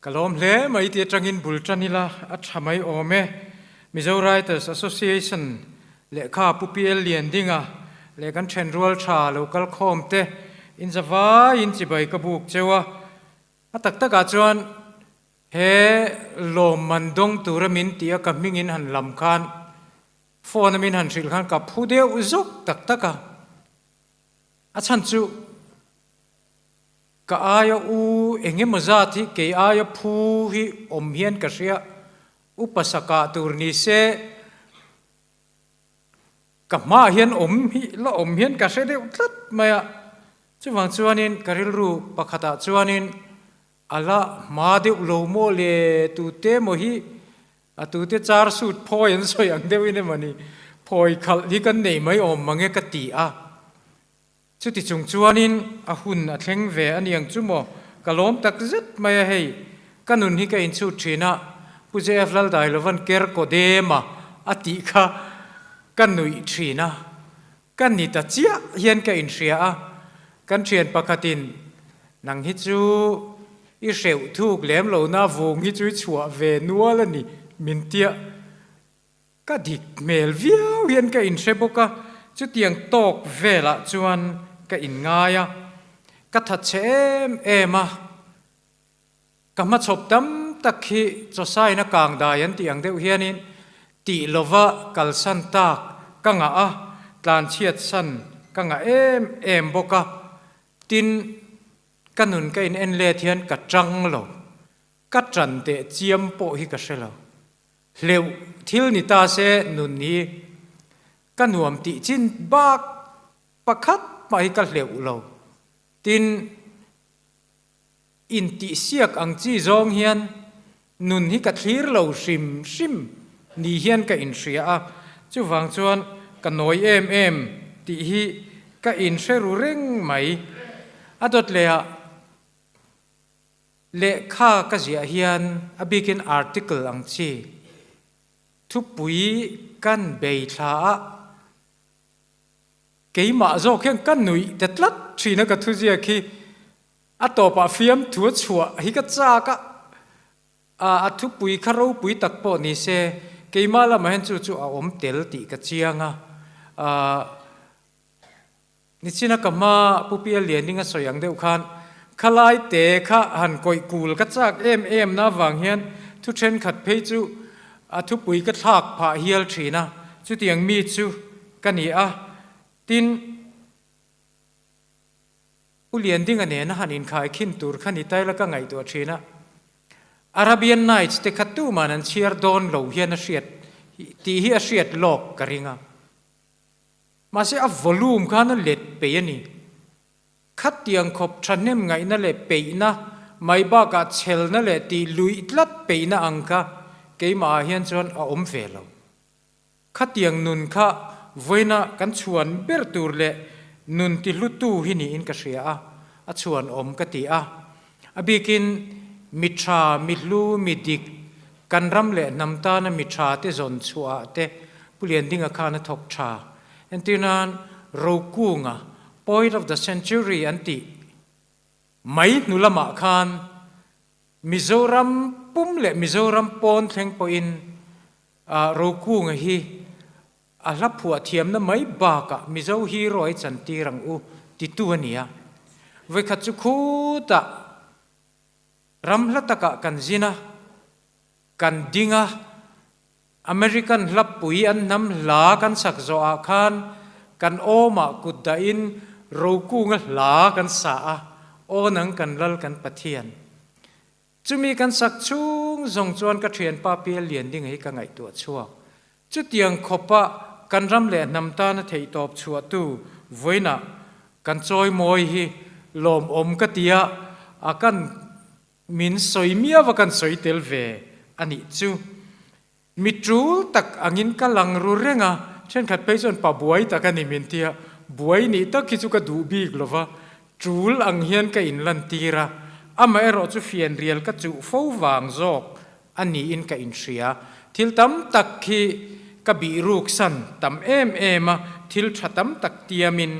Ka lawm hle mai ti atangin bul tan ila a tha mai awm e. Mizo Writers Association lehkha Pu PL Liandinga leh kan then rual tha lo kalkhawm te in zavaiin chibai ka buk cheu a. A tak takah chuan he lawm man dawng tura min ti a ka hmingin han lam khan phone a min han hrilh khan ka phu deuh zuk tak tak a. A chhan chu, Ka aia u eng emaw zat hi kei aia phu hi awm hian ka hria, u Pasaka tur ni se ka hmaah hian awm hi la awm hian ka hre deuh tlat mai a, chuvang chuanin ka rilru pakhatah chuanin A la hma deuh lo maw le, tute maw hi a tute char suit phawi an sawi ang deuhin emawni phawi khalh hi kan nei mai awm mange ka ti a, chuti chung chuanin a hun a thleng ve a niang chu maw ka lawm tak zet mai a hei, ka nun hi ka inchhut thin a, Pu JF lal dai lovan ker kaw dem a a tih kha ka nuih thin a, Ka ni ta chiah hian ka inhria a, kan thian pakhatin nang hi chu i hreuh thuk lem lo na vung hi chu i chhuah ve nual a ni min tia ka dik hmel viau hian ka inhre bawk a, chutiang tawk velah chuan ka inngai a, ka tha chhe em em a, Ka hmachhawp tam tak khi Chawsaina kang dai an tih ang deuh hianin tih lova kalsan tak ka ngah a, tlanchhiat san ka ngah em em bawk a, tin ka nun ka in en let hian ka chang lo, ka chan teh chiam pawh hi ka hre lo. Hleuh thil ni ta se nun hi ka nuam tih chin bak pakhat hmah hi ka hleuh lo, tin. Intihsiak ang chi zawng hian nun hi ka thlir lo hrim hrim ni hian ka inhria a, chuvang chuan ka nawi em em tih hi ka inhreru reng mai. A dawtleiah lehkha ka ziah hian a bikin article ang chi thupui kan bei thlaah Keimah zawk hian ka nuih ta tlat thin a ka thu ziak hi a tawpah fiam thu a chhuah hi ka chak a, ah a thupui kha ropui tak pawh ni se keimah lamah hian chu chu a awm tel tih ka chiang a, ah nichina ka hma Pu Pial Lianing a sawi ang deuh khan khalai te kha han kawih kul ka chak em em na vang hian thu thenkhat phei chu a thupui ka thlak phah hial thin a, chutiang mi chu. Ka ni a, tin U Liandinga nena han inkhai khin tur kha ni taila ka ngaihtuah thin a, Arabian Nights te kha tuman an chhiar dawn lo hian a hriat tih hi a hriat lawk ka ring a, mahse a volume khan a let pei a ni, khatiang khawp thahnem ngaihna leh peihna, mai bakah chhelna leh tih luih tlat peihna ang kha keimah ah hian chuan a awm ve lo. Khatiang nun kha vawiina kan chhuan ber tur leh nun ti hlutu hi niin ka hria a, a chhuan awm ka ti a. A bikin mi tha, mi hlu, mi dik, kan ram leh hnam tana mi tha te zawn chhuah te Pulian Dinga khan a thawk tha. Entirnan rokunga Poet of the Century an tih mai hnu lamah khan Mizoram pum leh Mizoram pawn thleng pawhin A rokunga hi a hla phuah thiamna mai bakah Mizo hero hi chan tir ang u titu a ni a. Vawikhat chu khutah ram hla takah kan zin a, kan ding a, American hlapui an hnam hla kan sak zawh ah khan kan awmah kut dah in rokunga hla kan sah a, awn ang kan Lal kan Pathian. Chumi kan sak chhung zawng chuan ka thianpa pial lian ding hi ka ngaihtuah chhuak. Chutiang khawpa kan ram leh hnam tana theihtawp chhuahtu vawiinah kan chawimawi hi lawmawm ka tia a kan min sawi miau a kan sawi tel ve a nih chu. Mi tul tak angin ka lang ru reng a, thenkhat phei chuan pa buai tak a ni min ti a, buai nih tak hi chu ka duh bik lo va, tul ang hian ka inlantir a, amaherawh chu fian rial ka chuh fo vang zawk a niin ka inhria, thil tam tak khi ka bihruksan tam em em a, thil tha tam tak tiam in.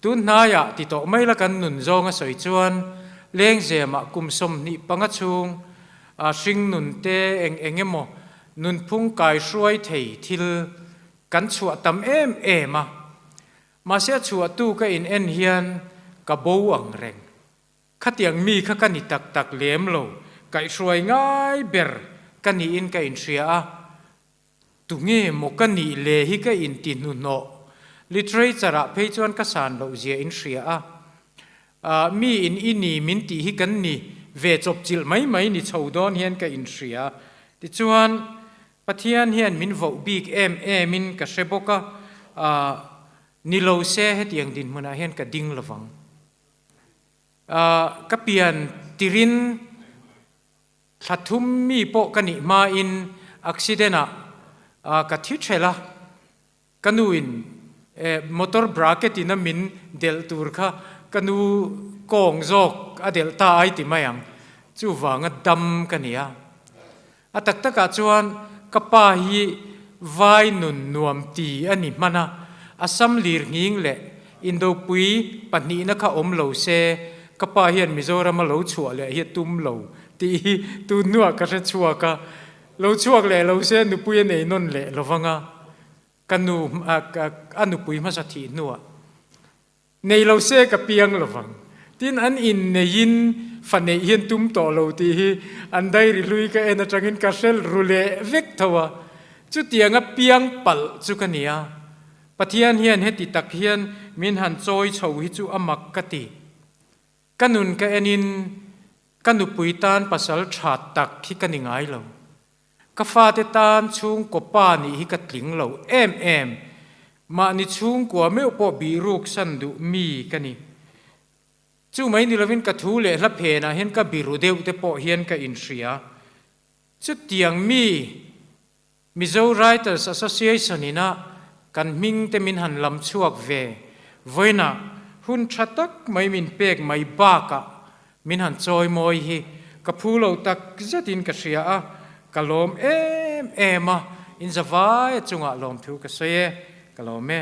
Tunhnaiah ti tawh mai la kan nun zawng a sawi chuan Lengzema kum sawmhnih panga chhung ah hring nun te eng eng emaw nunphung kai hruai thei thil kan chhuah tam em em a. Mahse a chhuahtu ka in en hian ka bo ang reng. Khatiang mi kha ka ni tak tak lem lo, kaihhruai ngai ber ka niin ka in hria a. Tunge maw ka nih le hi ka inti hnuhnawh? Literature-ah phei chuan ka san loh zia in hria a. Ahh, mi in i ni min tih hi kan ni ve chawpchilh mai mai ni chho dawn hian ka inhria. Tichuan, Pathian hian min voh bik em emin ka hre bawk a, ahh, ni lo se hetiang dinhmunah hian ka ding lovang. Ahh, ka pian tirin. Thla thum mi pawh ka nih hmain accident ah ka thi ṭhelh a, ka nu in motor bracket in a min delh tur kha ka nu kawng zawk a delh ta ai ti mai ang, chuvanga dam ka ni a. A tak tak ah chuan ka pa hi vai nun nuam ti a ni hman a, a sam lir nghing leh Indopui pahnihna kha awm lo se, ka pa hian Mizoram a lo chhuah leh hi a tum lo tih hi tun hnuah ka hre chhuak a, lo chhuak leh lo se nupui a nei nawn leh lo vang a, ka nu a nupui hmasa thih hnuah nei lo se ka piang lo vang, tin an inneiin fa neih hian tum tawh lo tih hi an diary hlui ka en atangin ka hrel ru leh vek tho a, chutianga piang palh chu ka nia, Pathian hian heti tak hian min han chawi chho hi chu a mak ka ti. Ka nun ka en in ka nupui tan pasal that tak hi ka ni ngai lo. Ka fate tan chhungkaw pa nih hi ka tling lo em em. Mahni chhungkua meuh pawh bih ruk san duh mi ka ni. Chu mai ni lovin ka thu leh hla phen ah hian ka biru deuh te pawh hian ka in hria. Chutiang mi Mizo Writers Association in a kan hming te min han lam chhuak ve vawiina hun tha tak mai min pek mai bakah min han chawimawi hi ka phu lo tak zet in ka hria a, ka lawm em em a, in zavai a chungah lawmthu ka sawi e, ka lawm e.